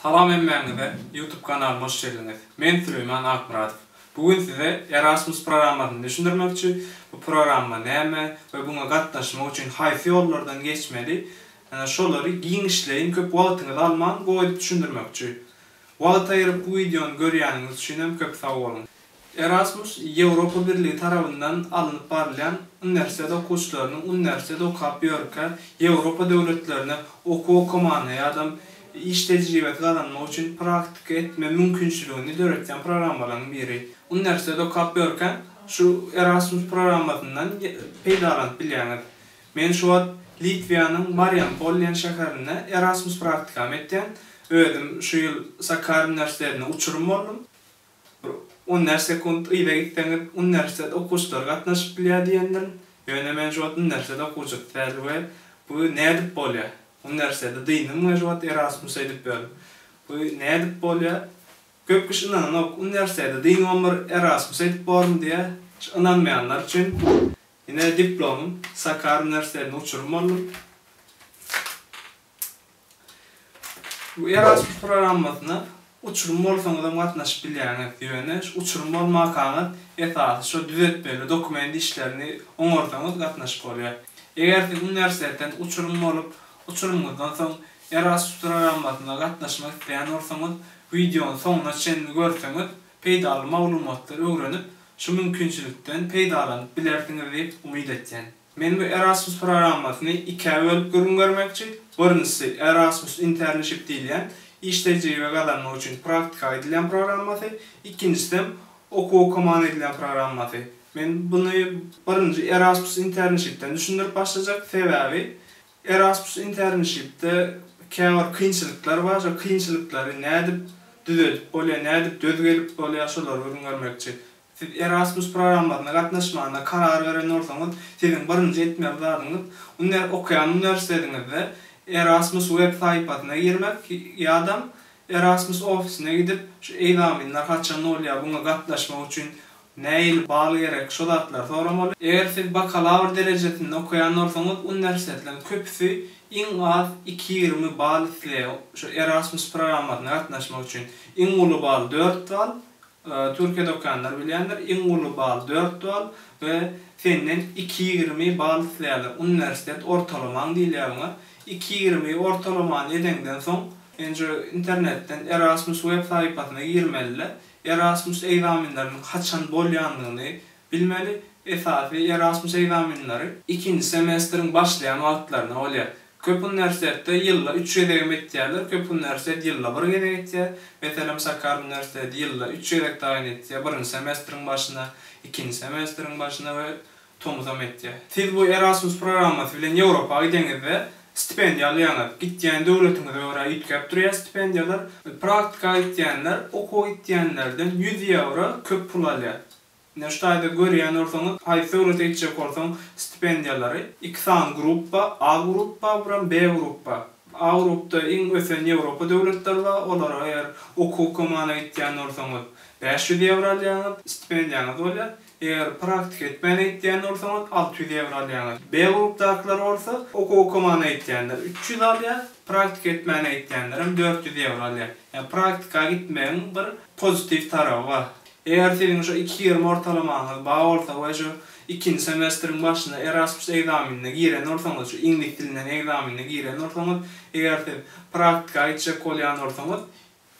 Salam hemmäňize YouTube kanalyma hoş geldiňiz. Men Süleýman Akmyradow. Bu gün size Erasmus programmasyny düşündirmekçi, bu programma näme we buňa gatnaşmak üçin haýsy ýollardan geçmeli ýa-da şolary giňişleýin köp wagtyňyzy alman goýup düşündirmekçi. Wagt aýryp bu wideony görýäniňiz üçinem köp sag boluň. Erasmus Ýewropa Birligi tarabyndan alnyp barylýan uniwersitet okuwçylarynyň uniwersitet okap ýörkä Ýewropa döwletlerine okuw okamana ýadam iş tejribesi gazanmak üçin praktika etme mümkinçiligini döretýän programmalaryň biri. Uniwersitet okap ýörkä şu Erasmus programmasyndan peýdalanyp bilýäňiz. Men şu wagt Litwiýanyň Mariampol diýen şäherinde Erasmus praktikamy etýän. Özüm şu ýyl Sakarýa uniwersitetine uçurym boldum. Bir uner sekunt yza gitseňiz, uniwersitet okuwçylary gatnaşyp bilýär diýendirin. Ýöne men şu wagt uniwersitet okuwçysy däl we bu nädip bolýar? Uniwersiteti dyndym we şu wagt Erasmus edip ýörün. Bu nädip bolýar? Köp kişi ynananok. Uniwersiteti dynyňam bir Erasmus edip borun diýýär. Şu ynanmaýanlar üçin ine diplomym. Sakar uniwersitetinde uçurym boldum. Bu Erasmus programmasyna uçurum bolsaňyzam gatnaşyp bilýäňiz, ýöne şu uçurum bolmakaňyz esasy şo düzetmeli dokument işlerini oňarsaňyz gatnaşyp bolýar. Eger siz uniwersitetden uçurum bolup, uçurymyňyzdan soň Erasmus programmasyna gatnaşmak isleýän bolsaňyz, wideony soňuna çenli görseňiz, peýdaly maglumatlary öwrenip, şu mümkinçilikden peýdalanyp bilersiňiz diýip umyt etýän. Men bu Erasmus programmasyny ikä bölüp gürrüň bermekçi, birinjisi, Erasmus internship diýilýän, iş tejribe gazanmak üçin praktika aýdylýan programmasy, ikinjisem, okuw okaman edilýän programmasy. Men buny birinji Erasmus internshipden düşündirip başlajak, sebäbi Erasmus internshipde käbir kynçylyklar bar, şo kynçylyklary nädip düzedip bolýar, nädip döz gelip bolýar, şolary gürrüň bermekçi. Siz Erasmus programmasyna gatnaşmagyna karar beren bolsaňyz, siziň birinji etmeli zadyňyz, uner okaýan uniwersitetiňizde Erasmus web saýpasyna girmek ýa-da Erasmus ofisine gidip, şu egzaminler haçan bolýar, buňa gatnaşmak üçin nähili bal gerek, şo zatlary soramaly. Eger siz bakalawr derejesinde okaýan bolsaňyz, uniwersitetleriň köpüsi iň az iki ýigrimi bal isleýär şu Erasmus programmasyna gatnaşmak üçin. Iň uly bal dört bal, Türkiýede okaýanlar bilýändir, iň uly bal dört bal we senden iki ýigrimi bal isleýärler. Uniwersitet ortalamaň diýilýär buňa. Iki ýigrimi ortalamany edeňden soň, men şu internetden Erasmus web sahypasyna girmelide Erasmus egzaminleriniň haçan bolýandygyny Bilmeli, esasy Erasmus ekzaminleri ikinji semestriň başlaýan wagtlaryna bolýar. Köp uniwersitetde ýylda üç gezegem etýärler, köp uniwersitet ýylda bir gezek etýär. Meselem, Sakkar uniwersiteti ýylda üç gezek taýyn etýär, birinji semestriň başyna, ikinji semestriň başyna we tomusam etýär. Siz bu Erasmus programmasy bilen Ýewropa gideňizde, stipendiýa alýaňyz. Gitýän döwletiňize görä üýtgäp durýar stipendiýalar. Praktika gitýänler, okuwa gitýänlerden ýüz ýewro köp pul alýar. Neştaýda görýän bolsaňyz, aý söwresi etjek bolsaň, stipendiýalary iki sany gruppa, A gruppa bilen B gruppa. A grupda iň ösen Ýewropa döwletleri bar, olara eger okuw okamana gitýän bolsaňyz, bäş ýüz ýewro alýaňyz, stipendiýaňyz bolýar. Eger praktika etmäne gitýän bolsaňyz, alty ýüz ýewro alýaňyz. B grupdakylar bolsa, okuw okamana gitýänler üç ýüz alýar, praktika etmäne gitýänlerem dört ýüz ýewro alýar. Ýa praktika gitmegiň bir pozitiw taraby bar. Eger siziň şu iki ýigrimi ortalamaňyz bar bolsa we şu ikinji semestriň başynda Erasmus ekzamenine giren bolsaňyz, şu iňlis dilinden ekzamenine giren bolsaňyz, eger siz praktika gitjek bolýan bolsaňyz,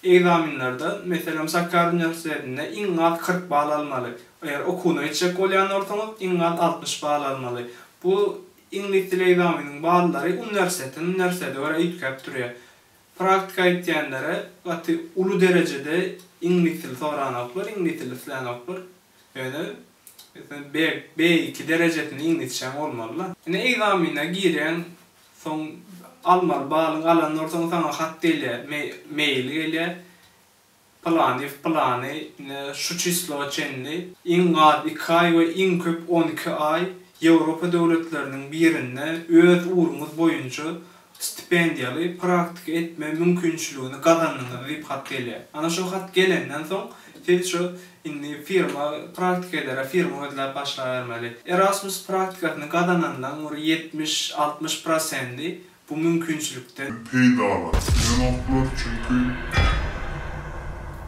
ekzamenlerden, meselem, Sakarýa uniwersitetinde iň az kyrk bal almaly. Eger okuwyna gitjek bolýan bolsaňyz, iň az altmyş bal almaly. Bu iňlis dili ekzameniniň ballary uniwersitetinden uniwersitete görä üýtgäp durýar. Praktika etýänlere gaty uly derejede iňlis dili soranoklar, iňlis dili islänoklar. Ýöne meselem B, B-iki derejesinde iňlisçäň bolmaly-da. Ine ekzamene girýäň, soň almaly balyň alan bolsaň saňa hat gelýär, mail gelýär. Pylanyýew pylany ine şu çislowa çenli iň az iki aý we iň köp on iki aý Ýewropa döwletleriniň birinde öz ugruňyz boýunça stipendiýaly praktika etme mümkinçiligini gazandyňyz diýip hat gelýär. Ana şo hat gelenden soň siz şu indi firma praktikeleri firma gözläp başlabermeli. Erasmus praktikasyny gazananlaň bir ýetmiş, altmyş prosendi bu mümkinçilikden. Peýdalansyn ýanoklar, çünki.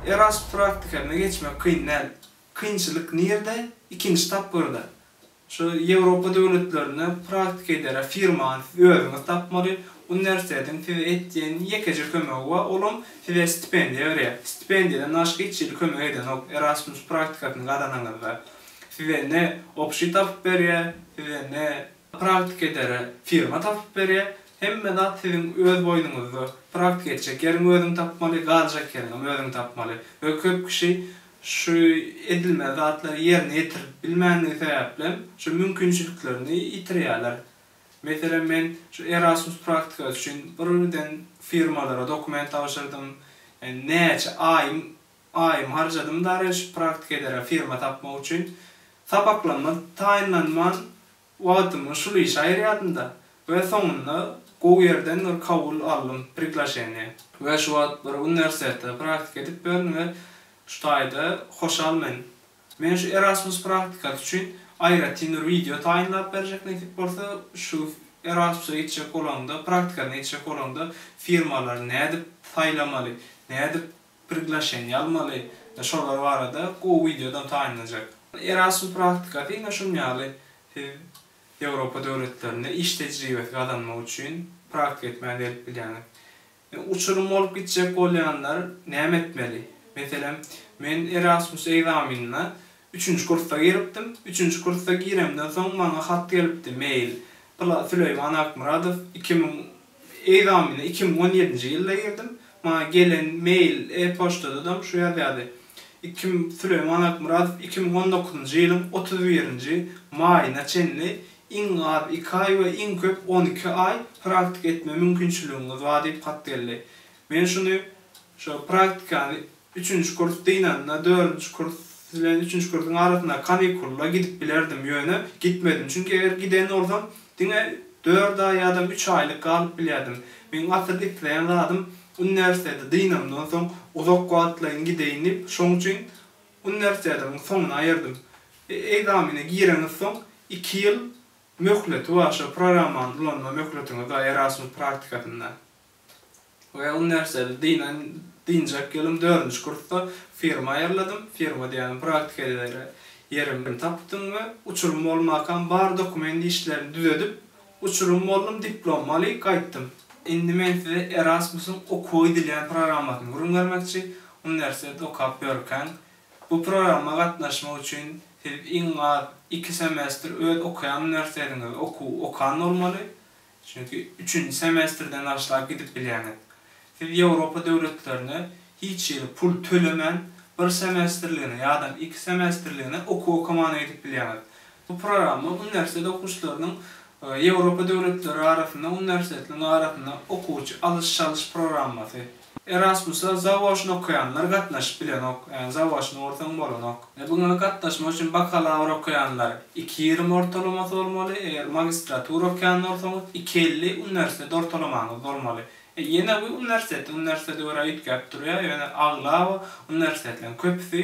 Erasmus praktikasyna geçmek kyn däl. Kynçylyk nirde? Ikinji tapgyrda. Şu Ýewropa döwletlerinde praktika edere firmany siz özüňiz tapmaly. Uniwersitetiň size etýän ýekeje kömegi bar, olam size stipendiýa berýär. Stipendiýadan daşky hiç hili kömek edenok Erasmus praktikasyny gazananyňyzda. Size ne obşi tapyp berýär, size ne. Praktik edere firma tapyp berýär. Hemme zat siziň öz boýnuňyzda. Praktik etjek ýeriňi özüň tapmaly, galjak ýeriňem özüň tapmaly we köp kişi şu edilmeli zatlary ýerine ýetirip bilmändigi sebäplem şu mümkinçiliklerini ýitirýärler. Meselem, men şu Erasmus praktikasy üçin birden firmalara dokument tabşyrdym. Ýa näçe aýym Aýym harjadym dareş praktik edere firma tapmak üçin. Sapaklanma taýynlanman wagtymy şul işe aýyrýadymda we soňunda gowy ýerden bir kabul aldym, priglaşeniýe. We şu wagt bir uniwersitetde praktika edip bilerin we şu taýda hoşal men. Men şu Erasmus praktikasy üçin aýratyn bir wideo taýynlap berjek nesip bolsa, şu Erasmusa gitjek bolaňda, praktikasyna gitjek bolaňda firmalary nädip saýlamaly, nädip priglaşeniýe almaly, şolar barada gowy wideodan taýynlanjak. Erasmus praktikasy ine şun ýaly siz Ýewropa döwletlerinde iş tejribesi gazanmak üçin praktika etmäge gelip bilýäňiz. Uçurym bolup gitjek bolýanlar näme etmeli? Meselem, men Erasmus ekzamenine üçünji kursda giripdim, üçünji kursda giremden soň maňa hat gelipdi, mail, pla, Süleýman Akmyradow iki müň Egzamine iki müň on ýedinji ýylda girdim. Maňa gelen mail, e-poçtadadam şu ýazýardy. Iki Süleýman Akmyradow iki müň on dokuzynjy ýylyň otuz birinji maýyna çenli iň az iki aý we iň köp on iki aý praktika etme mümkinçiligiňiz bar diýip hat geldi. Men şuny, şo praktikany Üçünji kurs dynanda, dördünji kurs bilen üçünji kursuň arasyndaky kanikulla gidip bilerdim, ýöne gitmedim. Çünki eger giden bolsam, diňe dört aý ýa-da üç aýlyk galyp bilýärdim. Meň asyl isleýän zadym uniwersiteti dynamdan soň uzak wagtlaýyn gideýin diýip, şoň üçin uniwersitetimiň soňuna aýyrdym. Ekzamene gireňiz soň iki ýyl möhleti bar, şo programmany ulanma möhletiňiz bar Erasmus praktikasynda. Well nerseli dynan dynjak ýylym dördünji kursda firma aýyrladym, firma diýýänim praktika edere ýerim tapdym we uçurym bolmakam bar dokument işlerini düzedip uçurym boldum diplomy aly gaýtdym. Indi men size Erasmusyň okuwa gidilýän programmasyny gürrüň bermekçi, uniwersitet okap ýörkäň bu programma gatnaşmak üçin siz iň az iki semestr öz okaýan uniwersitetiňizde okuw okan bolmaly, Çünki üçünji semestrden başlap gidip bilýäňiz. Siz Ýewropa döwletlerinde hiç ýeri pul tölemän bir semestrligine ýadam iki semestrligine okuw okamana gidip bilýäňiz. Bu programma uniwersitet okuwçylarynyň Ýewropa döwletleri arasynda uniwersitetliň arasynda okuwçy alyş-çalyş programmasy. Erasmusa zawoçny okaýanlar gatnaşyp bilenok, ä zawoçny bolsaň bolanok. Buňa gatnaşmak üçin bakalawr okaýanlar iki ýigrimi ortalamasy bolmaly, eger magistratura okaýan bolsaňyz iki elli uniwersitet ortalamaňyz bolmaly. Ýene bu uniwersitetden uniwersitete görä üýtgäp durýar, ýöne aglaba uniwersitetleriň köpüsi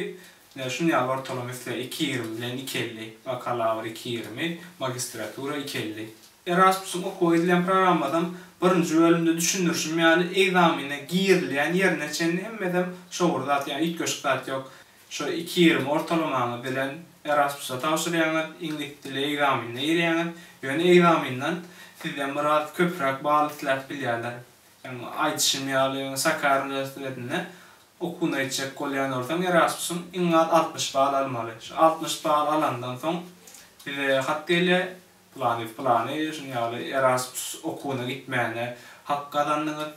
şuny ýaly ortalama isleýär, iki ýigrimi bilen iki elli, bakalawr iki ýigrimi, magistratura iki elli. Erasmus-yň okuwa gidilýän programmasynyň birinji bölümde düşündirişim ýaly, ekzamene girilýän ýerine çenli hemmesem şo bir zat, ýa üýtgeşik zat ýok. Şo iki ýigrimi ortalamaňyz bilen Erasmus-a tabşyrýaňyz, iňlis dili ekzamenine girýäňiz. Ýöne ekzamenden sizden biraz köpräk bal isläp bilýärler. Ýa aýdyşym ýaly, Sakarya uniwersitetinde okuwyna gitjek bolýan bolsaň, Erasmus-yň iň az altmyş bal almaly. Şu altmyş bal alandan soň size hat gelýär, Pylany pylany şunuň ýaly Erasmus okuwyna gitmäne hak gazandyňyz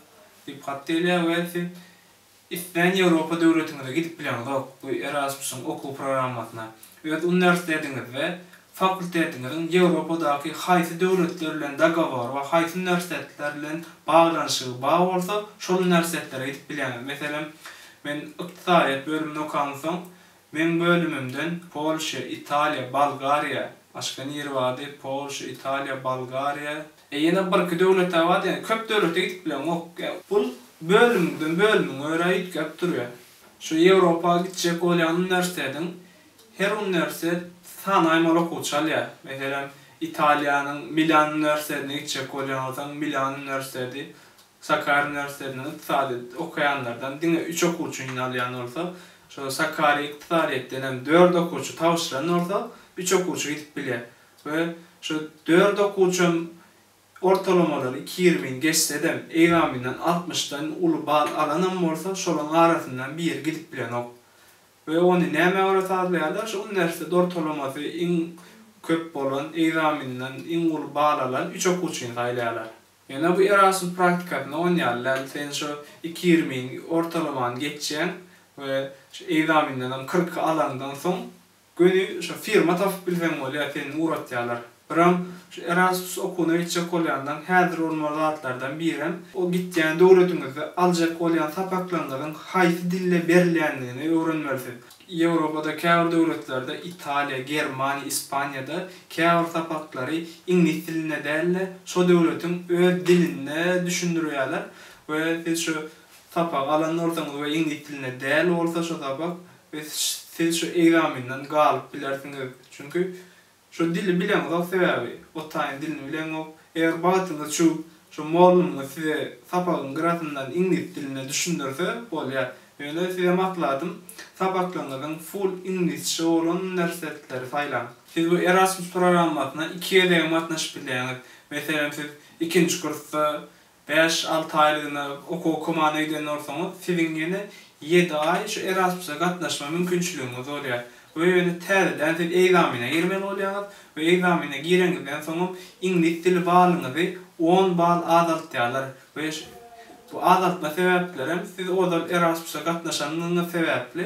diýip hat gelýär we siz islän Ýewropa döwletiňize gidip bileňizok bu Erasmusyň okuw programmasyna. Öz uniwersitetiňizde fakultetiňiziň Ýewropadaky haýsy döwletler bilen dogowory we haýsy uniwersitetler bilen baglanyşygy bar bolsa şol uniwersitetlere gidip bileňiz. Meselem, men ykdysadyýet bölümini okansoň, Meň bölümimden Polşa, Italiýa, Bolgariýa, başga niri bardy, Polşa, Italiýa, Bolgariýa, e ýene birki döwletä bardy, ýagny köp döwlete gidip bileňok. Bul bölümden bölüme görä üýtgäp durýar. Şu Ýewropa gitjek bolýan uniwersitetiň her uniwersitet sanaýmaly okuwçy alýar. Meselem, Italiýanyň Milan uniwersitetine gitjek bolýan bolsaň, Milan uniwersiteti Sakarýa uniwersitetiniň ykdysadyýeti okaýanlardan diňe üç okuwçy ynalýan bolsa, şol Sakarýa ykdysadyýetden hem dört okuwçy tabşyran bolsa, üç okuwçy gidip bilýär we şo dört okuwçam ortalamalary iki ýigrimini geçsedem, egzaminden altmyşdan uly bal alanam bolsa, şolaryň arasyndan biri gidip bilenok. We ony nämä görä sazlaýarlar? Şo uniwersitet ortalamasy iň köp bolan, egzaminden iň uly bal alan üç okuwçyny saýlaýarlar. Ýöne bu Erasmus praktikasynda on ýaly däl, sen şo iki ýigrimini ortalamany geçýäň we şu ekzamindenem kyrky alaňdan soň göni şo firma tapyp bilseň bolýar, seni ugratýarlar. Biram şu Erasmus okuwyna gitjek bolýandan häzir bolmaly zatlardan birem o gitýän döwletiňizde aljak bolýan sapaklaryňyzyň haýsy dilde berilýändigini öwrenmelisiň. Ýewropada käbir döwletlerde, Italiýa, Germaniýa, Ispaniýada käbir sapaklary iňlis dilinde däl-de, şo döwletiň öz dilinde düşündirýärler we siz şu sapagy alan bolsaňyz we iňlis dilinde däl bolsa şo sapak, siz şu ekzamenden galyp bilersiňiz. Çünki Şo dili bileňizok sebäbi otaýyň dilini bileňok. Eger bagtyňyz çu şo mollumyz size sapagyň gyrasyndan iňlis dilinde düşündirse bolýa. Ýöne size maslahatym sapaklaňyzyň full iňlisçe bolan nersetleri saýlaň. Siz bu Erasmus programmasyna iki gezegem gatnaşyp bilýäňiz. Meselem siz ikinji kursda Bäş, alty aýlygyna okuwa komanda giden bolsaňyz, siziň ýene ýedi aý şu Erasmusa gatnaşma mümkinçiligiňiz bolýar we ýöne täzeden siz ekzamene girmeli bolýaňyz we ekzamene gireňizden soňam iňlis dili balyňyzy on bal azaltýarlar we bu azaltma sebäplerem siz ozal Erasmusa gatnaşanyňyz sebäpli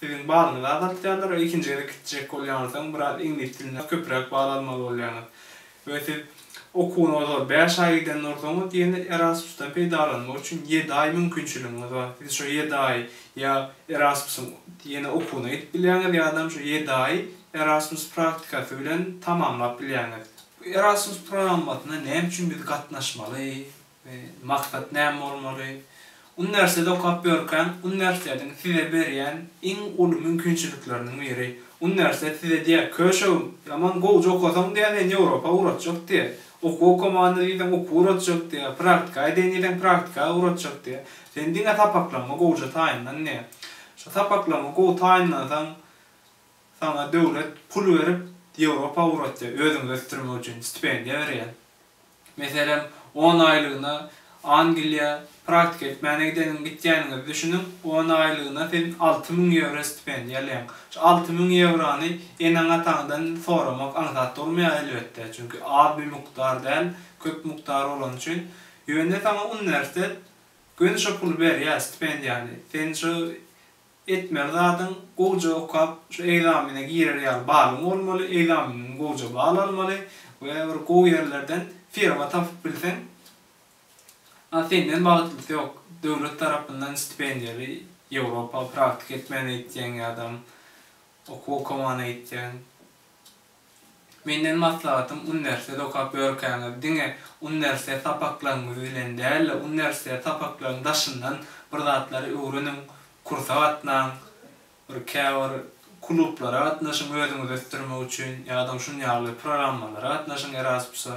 Siziň balyňyzy azaltýarlar we ikinji gezek gitjek bolýaňyzsoň biraz iňlis diline köpräk bal almaly bolýaňyz. We siz okuwyňyz ol bäş aý giden dursaňyz ýene Erasmusdan peýdalanmak üçin ýedi aý mümkinçiligiňiz bar. Siz şo ýedi aý ýa Erasmusyň ýene okuwyna gidip bilýäňiz ýadam şo ýedi aý Erasmus praktikasy bilen tamamlap bilýäňiz. Bu Erasmus programmasyna näme üçin biz gatnaşmaly? Maksat näme bolmaly? Uniwersitet okap ýörkäň, uniwersitetiň size berýän iň uly mümkinçilikleriniň biri. Uniwersitet size diýýär, Köşegim, ýaman gowja okasaň diýýär, seni Ýewropa ugratjak diýýär. Okuw okamanda diýseň, okuw ugratjak diýýär. Praktika edeýin diýseň, praktika ugratjak diýýär. Sen diňe sapaklaryňy gowja taýynlan diýýär. Şo sapaklaryňy gowy taýynlansaň, saňa döwlet pul berip, Ýewropa ugratýar, özüňi ösdürmek üçin stipendiýa berýär. Meselem, on aýlygyna Angliýa praktika etmäne gideniň gitýäniňizi düşüniň, on aýlygyna siz alty müň ýewro stipendiýa alýaň. Şu alty müň ýewrony eneň-ataňdan soramak aňsat durmaýar elbetde, çünki az bir mukdar däl, köp mukdar bolany üçin. Ýöne saňa uniwersitet göni şo puly berýär, stipendiýany. Sen şo Etmeli zadyň gowja okap şu ekzamene girer ýaly balyň bolmaly, ekzameniňden gowja bal almaly we bir gowy ýerlerden firma tapyp bilseň a senden bagtlysy ýok. Döwlet tarapyndan stipendiýaly Ýewropa praktika etmäne gitýäň ýadam okuw okamana gitýäň. Menden maslahatym uniwersitet okap ýörkäňiz diňe uniwersitet sapaklaryňyz bilen däl-de uniwersitet sapaklaryň daşyndan bir zatlary öwreniň, kursa gatnaň, bir käbir klublara gatnaşyň özüňizi ösdürmek üçin ýa-da şun ýaly programmalara gatnaşyň erasmusa,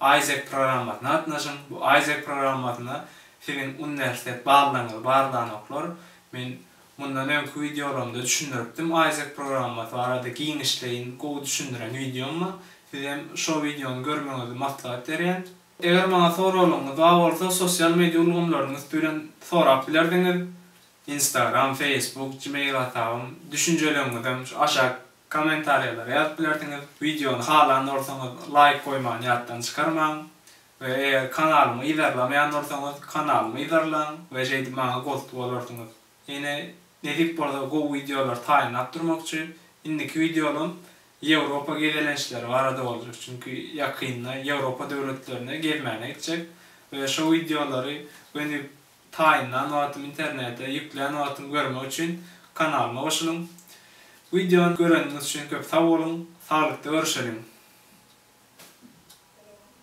AIESEC programmasyna gatnaşyň, bu AIESEC programmasyna siziň uniwersitet ballaryňyzy barlanoklar, men Mundan öňki wideolarymda düşündiripdim Isaac programmasy barada giňişleýin gowy düşündiren wideom bar. Sizem şo wideony görmegiňizi maslahat berýän. Eger maňa soraglaryňyz bar bolsa sosial media ulgamlarynyň üsti bilen sorap bilersiňiz. Instagram, Facebook, gmail hasabym. Düşünjeleriňizem şu aşak Kommentariýalara ýazyp bilersiňiz. Wideony halan bolsaňyz laýk goýmany ýatdan çykarmaň we eger kanalymy yzarlamaýan bolsaňyz kanalymy yzarlaň we şeýdip maňa gost bolarsyňyz. Ýene nesip bolsa gowy wideolar taýynlap durmakçy. Indiki wideolym Ýewropa gezelençleri barada boljak çünki ýakynda Ýewropa döwletlerine gezmäne gitjek we şo wideolary gönüp Taýynlan wagtym internete ýüklän wagtym görmek üçin kanalyma goşulyň. Wideony göreniňiz üçin köp sag boluň. Saglykda görüşeliň.